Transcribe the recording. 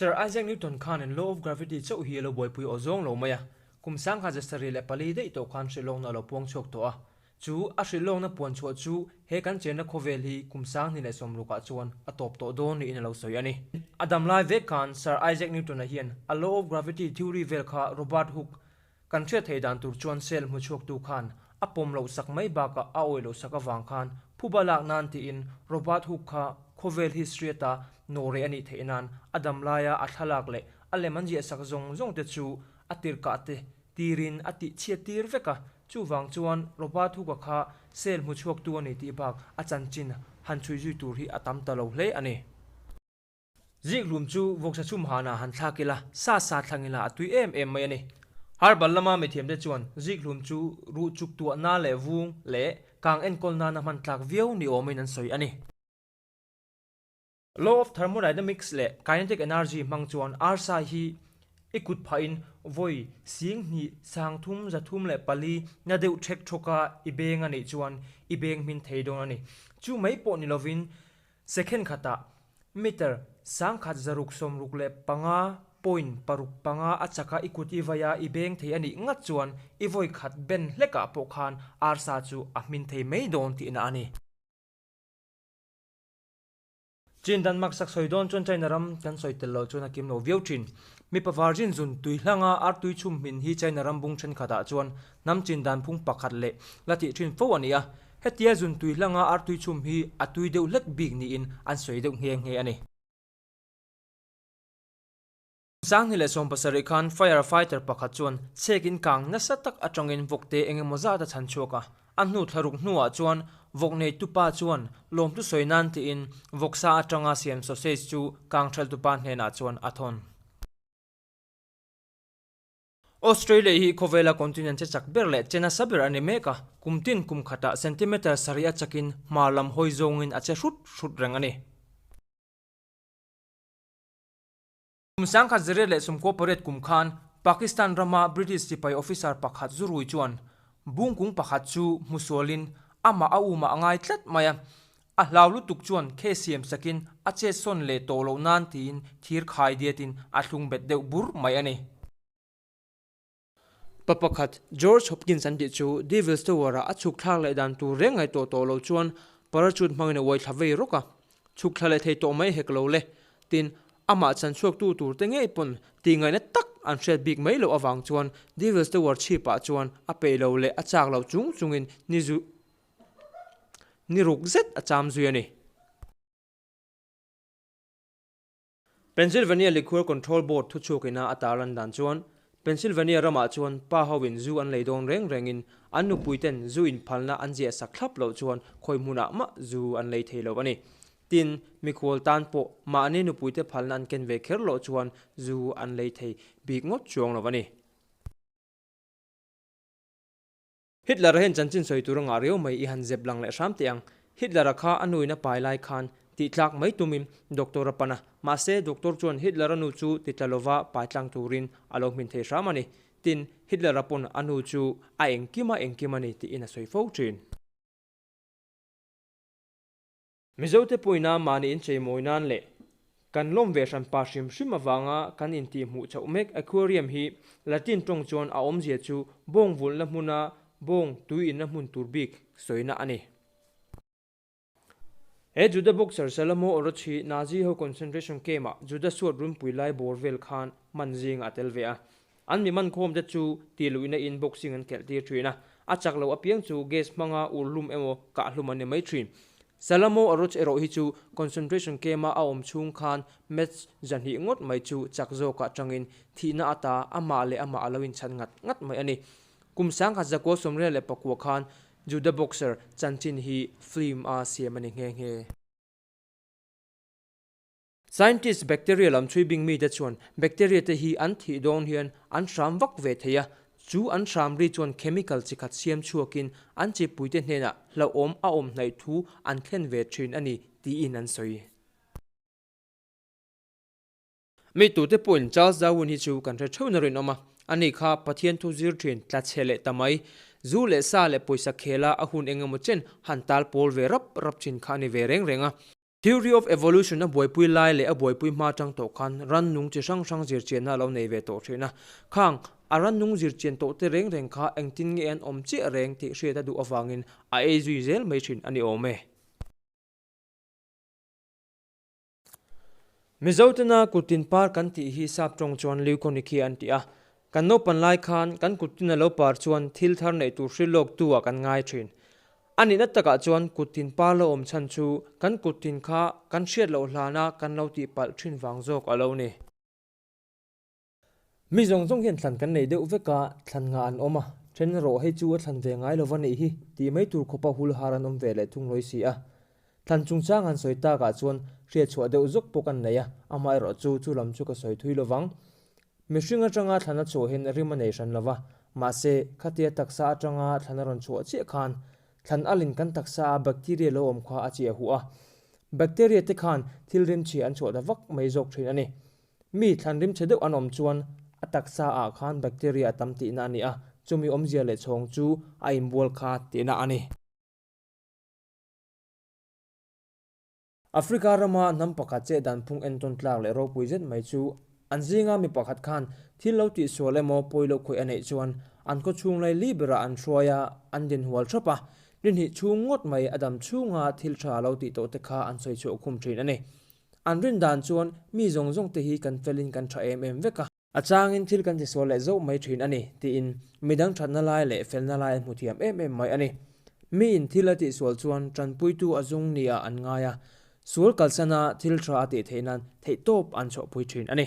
Sir Isaac Newton khan in law of gravity chauh hi a lo buaipui aw zawng lo mai a, kum sang kha zasari leh pali daih tawh khan hrilh lawkna a lo puang chhuak tawh a. Chu a hrilh lawkna puan chhuah chu he kan chenna khawvel hi kum sang hnih leh sawm ruk ah chuan a tawp tawh dawn niin a lo sawi a ni. A dam lai vek khan Sir Isaac Newton-a hian a law of gravity theory vel kha Robert Hooke, Kan hriat theih dan tur chuan cell hmu chhuaktu khan a pawm loh sak mai bakah a awih loh sak avang khan phup a lak nan tiin Robert Hooke kha khawvel hi hriat a naw reh a nih theih nan a dam lai a, a thlalak leh a lem an ziah sak zawng zawng te chu a tirhkah te tirin a tih chhiat tir vek a, chuvang chuan Robert Hooke-a kha cell hmu chhuaktu a ni tih bak a chanchin han chhui zui tur hi a tam ta lo hle a ni. Zikhlum chu vawksa chhum hânah han thlâk ila, sa sa thlang ila a tui êm êm mai a ni. Har bal lama mithiamte chuan zikhlum chu ruh chuk tuah nâ leh vûng leh kâng enkawl nâna hman tlâk viau ni âwmin an sawi a ni. Law of Thermodynamics leh Kinetic Energy hmang chuan arsa hi i kut phahin vawi sîng hnih sâng thum za thum leh pali na deuh ṭhek ṭhawka i bêng a nih chuan i bêng hmin thei dawn a ni. Chu mai pawh ni lovin Second khata meter sangkhat zaruk sawmruk leh panga point paruk panga a chaka i kut i vai a, i beng thei a nih ngat chuan i vawi khat ben hlekah pawh khan arsa chu a hmin thei mai dawn tihna a ni. Chin dan mak sak sawi dawn chuan China ram kan sawi tel lo chuan a kim lo viau thin. Mipa varzin zun tui hlanga artui chhum hmin hi China ram bung thenkhatah chuan hnam chin dan phung pakhat leh la tih thin fo a ni a. Hetia zun tui hlanga artui chhum hi a tui deuh hlek bik niin an sawi deuh nghe nghe a ni. Sangni leh sawm pasarih khan fire fighter pakhat chuan chhek in kang nasa tak atangin vawk te eng emaw zat a chhan chhuak a, a hnu thla ruk hnuah chuan vawk neitu pa chuan lawmtu sawi nan tiin vawk sa atanga siam sausage chu kang thaltu pa hnenah chuan a thawn. Australia hi khawvela continent che chak ber leh che nasa ber a ni mek a, kum tin kum khata centimetre sarih a chakin hma lam hawi zawngin a che hrut hrut reng a ni. Kum sangkhat ziriat leh sumkaw pariat kum khan Pakistan rama British sipai officer pakhat zu rui chuan bungkung pakhat chu hmu sualin amah a umah a ngai tlat mai a, A hlau lutuk chuan khe siam sakin a che sawn leh tawh loh nan tiin thir khai diatin a thlung bet deuh bur mai a ni. Pa pakhat, George Hopkins an tih chu, Devil's Tower-ah a chhuk thlak leh dan tur reng ngai tawh tawh lo chuan parachute hmangin a uai thla vei rawk a. Chhuk thla leh thei tawh mai hek lo le, tin, amah chan chhuaktu tur te ngei pawn tihngaihna tak an hriat bik mai loh avang chuan Devil's Tower chhipah chuan a peih lo leh a chak lo chung chungin ni zu Ni ruk zet a cham zui a ni. Pennsylvania Liquor Control Board thuchhuk ina a tar lan dan chuan Pennsylvania ramah chuan pa ho in zu an lei dawn reng reng in an nupui ten zu in phalna an ziah sak thlap loh chuan khawi hmun ah mah zu an lei thei lo a ni. Tin, mikhual tan pawh mahni nupui te phalna an ken ve kher loh chuan zu an lei thei bik ngawt chuang lo a ni. Hitler-a hian chanchin sawi tur a ngah riau mai i han zep lang leh hram teh ang. Hitler-a kha a nuin a pai lai khan tihtlak mai tumin doctor-a pan a, mahse doctor chuan Hitler-a nu chu titla lova pai tlang turin a lo hmin thei hram a ni. Tin, Hitler-a pawn a nu chu a engkim a engkim a ni tiin a sawi fo thin. Mizote pawina mahni in chei mawi nan leh kan lawm ve hran pa hrim hrim avanga kan intih hmuh chauh mek aquarium hi Latin tawng chuan a awmzia chu bawng vulna hmuna bawng tui inna hmun tur bik sawina a ni. He Juda boxer Salamo Oroch hi Nazi ho concentration camp ah Juda suat runpui lai bawr vel khan man zinga a tel ve a. An miman khawmte chu ti luhina in boxing an khelh tir thin a, a chak lo apiang chu gas hmanga ur hlum emaw kah hlum an ni mai thin. Salamo eroch erawh hi chu concentration camp-a a awm chhung khan maths zahnih ngawt mai chu chak zawkah tangin thihna a ta, amah leh amah a lo inchhat ngat ngat mai a ni. Kum sangkhat zakua sawmrial leh pakua khan juda boxer chanchin hi film-a siam a ni nghe nghe. Scientists bacteria lam chhui bing mite chuan bacteria te hi an thih dawn hian an hram vak ve thei a, chu an hram ri chuan chemical chi khat siam chhuakin an chi puite hnenah hlauhawm a awmhnaih thu an thlen ve thin a ni tiin an sawi. Mi tute pawhin Charles Darwin hi chu kan hre theuhna rinawm a, a ni kha Pathian thu zir thin tla chhe leh ta mai, zu leh sa leh pawisa khela a hun engemaw chen han tal pawl ve rap rap thin kha a ni ve reng reng a. Theory of Evolution a buaipui lai leh a buaipui hma chang tawh khan rannung chi hrang hrang zirchianna a lo nei ve tawh thin a. Khang, a rannung zirchian tawh te reng reng kha engtin nge an awm chiah reng tih hriat a duh avangin a ei zui zel mai thin a ni awm e. Mizo tena kut tin par kan tih hi sap tawng chuan Leuconychia an ti a, Kan naupan lai khan kan kut tina lo par chuan thil thar neih tur hrilh lawk tu ah kan ngai thin. A nihna tak ah chuan kut tin par lo awm chhan chu kan kut tin kha kan hriat loh hlan a kan lo tih palh thin vang zawk a lo ni. Mi zawng zawng hian thlan kan nei deuh vek a, thlan ngah an awm a, then rawh hei chu a thlan ve ngai lo va nih hi tih mai tur khawpa hul har an awm ve leh thung lawi si a. Thlan chungchang an sawi tak ah chuan hriat chhuah deuh zawk bawk an nei a, amaherawhchu chu lam chu ka sawi thui lo vang. Mihring atanga thlana chhuahin rim a nei hran lo va, mahse, khatia taksa atanga thlana rawn chhuah chiah khan thlan alin kan taksa a bacteria lo awm kha a cheh a huah a. Bacteria te khan thil rim chhia an chhuah ta vak mai zawk thin a ni. Mi thlan rim chhe deuh an awm chuan a taksa ah khan bacteria a tam tihna a ni a, chumi awmzia leh chhawng chu a inbual kha tihna a ni. Africa rama hnam pakhat che dan phung entawn tlak leh ropui zet mai chu an zinga mi pakhat khan thil lo tih sual emaw pawi lo khawih a neih chuan an khaw chhung lai li berah an hruai a, an din hual thap a, ni hnih chhung ngawt mai a dam chhunga thil tha lo tih tawh te kha an sawi chhuah khum thin a ni. An rin dan chuan mi zawng zawng te hi kan fel in kan tha em em vek a. A changin thil kan ti sual leh zauh mai thin a ni, tiin midang thatna lai leh felna lai a hmu thiam em em mai a ni. Miin thil a tih sual chuan tanpuitu a zung niah an ngai a, sual kalsana thil tha a tih theihnain theihtawp an chawhpui thin a ni.